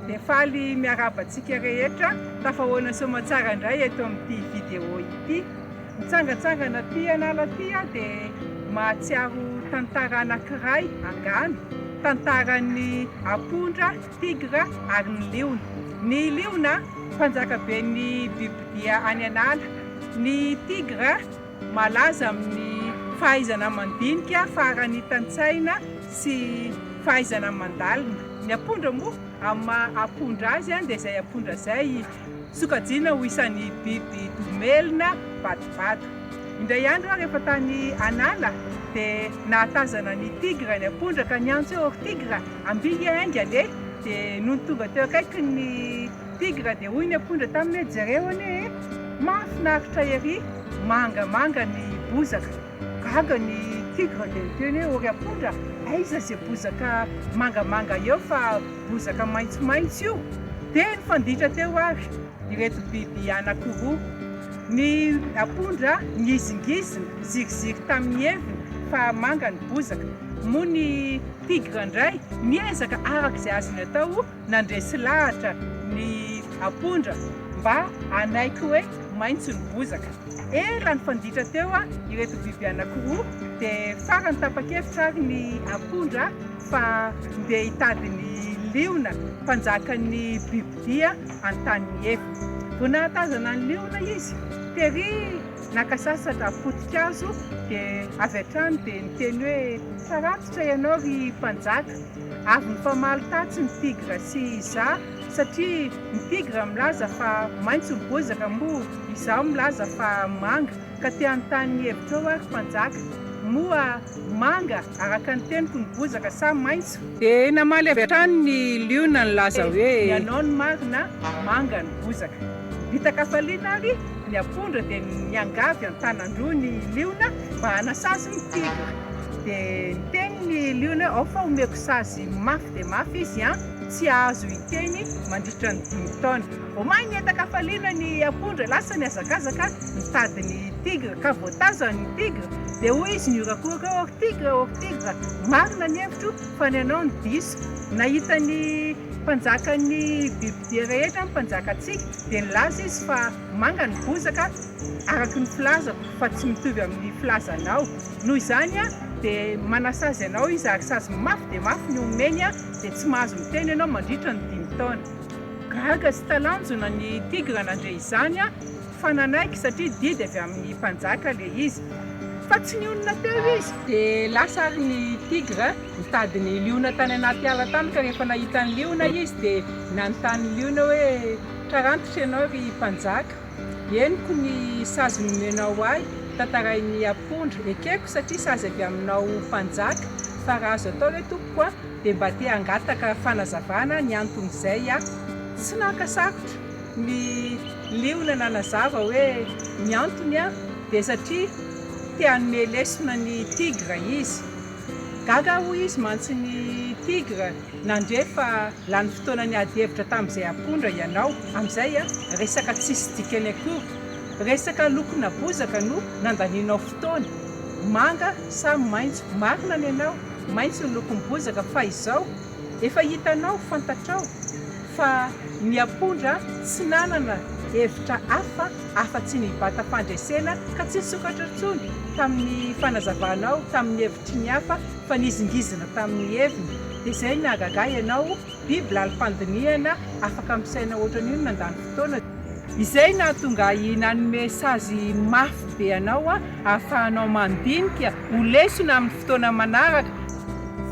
Dia faly miarahaba antsika rehetra tafahoana soamatsara indray eto amin'ity vidéo ity. Mitsangantsangana aty an'ala aty aho dia mahatsiaro tantara anankiray angano, tantaran'ny apondra, tigra ary ny liona. Ny liona mpanjaka ben'ny bibidia any an'ala, ny tigra, Malaza amin'ny fahaizana mandinika, faharanitan-tsaina sy fahaizana mandalina. Ny apondra moa, amin'ny maha apondra azy dia izay apondra izay sokajiana ho isan'ny biby domelina vadivady. Indray andro aho rehefa tany an'ala dia nahatazana ny tigre ny apondra ka niantso hoe, ry tigre, ambihy hiainga anie! Dia nony tonga teo akaikiny ny. Tigra dia hoy ny apondra taminy hoe jereo anie e! Mahafinaritra ery! Mangamanga ny bozaka. Gaga ny tigra dia niteny hoe o ry apondra aiza ze bozaka mangamanga eo fa bozaka maintsomaintso io? Dia nifanditra teo ary ireto biby anakiroa. Ny apondra ngizingizina, ziriziry tamin'ny heviny fa manga ny bozaka. Moa ny tigra indray miezaka araka izay azony atao. Nandresy lahatra ny ampondra mba hanaiky hoe maitso ny bozaka. Ela nifanditra teo ireto biby anankiroa dia farany tapa-kevitra ary ny ampondra fa ndeha hitady ny liona mpanjakan'ny bibidia an-tany eto. Vao nahatazana ny liona izy, tery naka sasatra poti-kazo dia avy hatrany dia niteny hoe, Faratitra ianao ry mpanjaka. Avy mifamaly tatsy ny tigra sy izaho satria ny tigra milaza fa maitso ny bozaka moa izaho milaza fa manga ka te hanontany ny hevitrao ary mpanjaka, moa manga araka ny teniko ny bozaka sa maitso? Dia namaly avy hatrany ny liona nilaza hoe. Dia ny anao no marina, manga ny bozaka. Nibitaka-faliana ary ny apondra dia niangavy an-tanan-droa ny liona mba hanasazy ny tigra. Dia niteny ny liona hoe, ao fa omeko sazy mafy dia mafy izy an! tsy hahazo hiteny mandritra ny dimy taona. Omaly nihatakafaliana ny apondra, lasa nihazakazaka nitady ny tigre, ka voatazany ny tigre, dia hoy izy nihorakoraka hoe, ok tigre, ok tigre, marina ny hevitro fa ny anao no diso. Nahita ny mpanjakan'ny bibidia rehetra ny mpanjakantsika, dia nilaza izy fa manga ny bozaka, araka ny filazako, fa tsy mitovy amin'ny filazanao. Noho izany dia manasazy anao izy ary sazy mafy dia mafy ny omeny dia tsy mahazo miteny ianao mandritra ny dimy taona. Gaga sy talanjona ny tigra nandre izany fa nanaiky satria didy avy amin'ny mpanjaka ilay izy. Fa tsy nionona teo izy. Dia lasa ary ny tigra nitady ny liona tany anaty ala tany ka rehefa nahita ny liona izy dia nanontany ny liona hoe, Tra rantitra ianao ry mpanjaka? Henoko ny sazy nomenao ahy, tantarain'i Apondra, ekeko satria sazy avy aminao mpanjaka, fa raha azo atao ve tompoko a, dia mba te hangataka fanazavana ny anton'izay aho. Tsy naka sarotra ny liona nanazava hoe ny antony a, dia satria te hanome lesona ny tigra izy. Gaga hoy izy mantsy ny tigra. Nandre fa lany fotoana niady hevitra tamin'izay apondra ianao, amin'izay resaka tsisy dikany akory, resaka lokona bozaka no nandanianao fotoana, manga sa maitso, marina ny anao, maitso ny lokon'ny bozaka fa izao efa hitanao, fantatrao fa ny apondra tsy nanana hevitra hafa afa-tsy ny vatam-pandresena ka tsy nisokatra intsony tamin'ny fanazavanao tamin'ny hevitry ny hafa, Fanizingizina tamin'ny heviny, dia izay nahagaga ahy ianao, biby laly fandinihana, afaka misaina hoatran'io nandany fotoana, izay nahatonga ahy nanome sazy mafy be anao ahafahanao mandinika ho lesona amin'ny fotoana manaraka.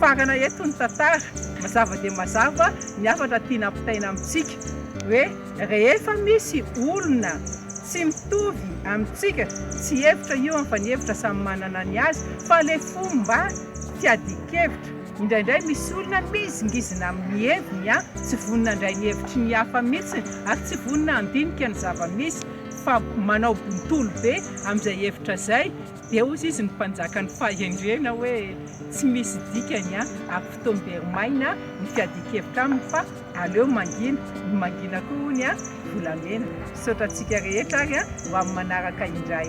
Farana eto ny tantara, mazava dia mazava ny hafatra tiana ampitaina amintsika, hoe. Rehefa misy olona tsy mitovy amintsika tsy hevitra io an fa ny hevitra samy manana ny azy fa le fomba fiadian-kevitra indraindray misy olona mizingizina amin'ny heviny an tsy vonona handray ny hevitry ny hafa mitsiny ary tsy vonona handinika ny zava-misy fa manao bontolo be amin'izay hevitra zay dia hozy izy ny mpanjaka ny fahendrena hoe tsy misy dikany an ary fotoam-beri-maina ny fiadian-kevitra aminy fa Aleo mangina, ny mangina koa hono volamena. Misaotra antsika rehetra ary ho amin'ny manaraka indray.